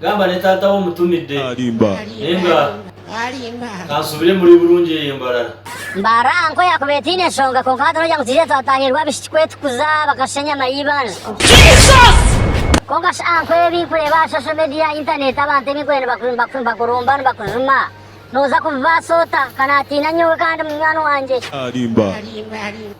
Gamba ne tata we omutumide. Narimba. Ninga kansubire muri burungi eyo embarara. Mbarara aha nko yakuba etaine nshonga kwonka hati nogira ngu tihaija twatahirwa abishiki kwetukuza bakashusha enyama y'eibanja. Kwonka shi aha nko ebi nkureeba aha social media, internet, abantu ebi nkureeba nibakurumba nibakujuma noza kubibaasa ota? Ka natiina nyowe kandi munywani wangye. Narimba.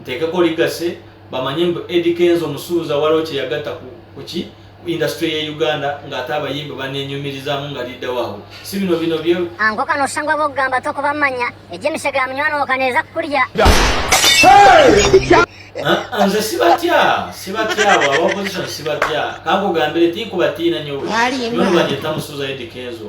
Nteeka ku orikase bamanye mbu Eddy Kenzo omusubuzi awarokye yagata ku kuki ku industry eye Uganda ngu ate abayimbi banenyumirizamu nga leader wabo sibino bino bye Ankoka noshusha ngu abokugamba tokubamanya, egyo emishega ya munywani wawe ka neza kukurya. Aa nze sibatya sibatya abo aba opposition sibatya kankugambire tinkubatiina nyowe nyowe nibanyeeta musuza Eddy Kenzo.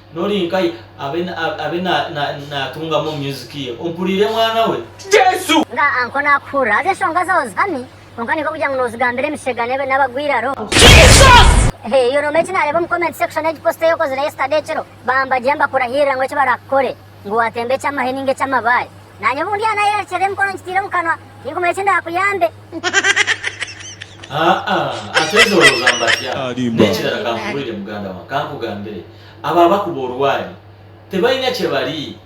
Nori nkaye abe natungamu omu music ye ompuriire mwana we Jesu. Nga anko nakuhurira haza enshonga zawe zihami kwonka ninka kugira ngu nozigambira emishega nabagwiraro. Jesus! Ehh yoona omwe eki nareeba omu comment section yegi post eyokozire yesterday ekiro bamba gye mbakurahiirira ngu eki barakukore. Ngu waatemba eky'amahe nainga eky'amabaare, naanye obu ndyaaba naayerekyera emikono ngitiire omu kanwa, tinkumanya eki ndaakuyambe. Haa! Asweza orooza mba tya? N'ekirara kankubuurire muganda wange, kankugambire, abo abakuba orwaari tibaine kye bari.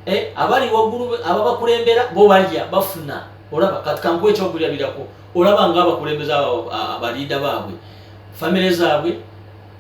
E, abari waiguru abo abakurembera bo barya, bafuna. Oraba? Kati kankuhe ekyokurya birakwo. Oraba ngu abakurembezi abo, abo, abo, abariida baabwe, famire zaabwe,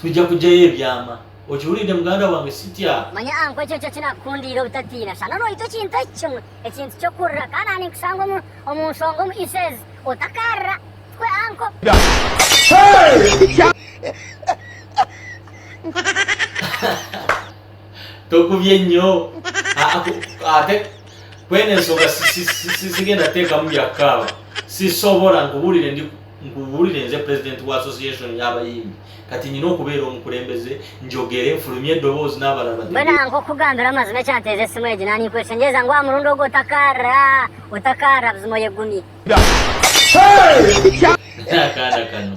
Twija kugyayo ebyama. Okihuriire muganda wange, si tya? Manya aha nkwekyo nikyo kinakukundiire obutatiina. Shana orwaitwa ekintu eki kimwe, ekintu ky'okurira. Kandi aha ninkushanga omu, omu nshonga omu Ises. Otakaarira. Tukwe anko. Tokubye nyo. Aa, ku, ate, ku ena ensonga si, si, si, si, sigenda kuteekamu bya kukaaba. Sisobora, nkubuurire, ndi, Nkubuurire nze purezidenti wa Association y'abayimbi. Kati nyine okubeera omukurembeze, ngyogere, nfurumye edoboozi naabara abadebezi. Mbwenu nk'okukugambira amazima ekyanteeza esimu egi na ninkweshengyereza ngu aha murundi ogu otakaarira, otakaarira buzima oyegumye. N'akaana kanu.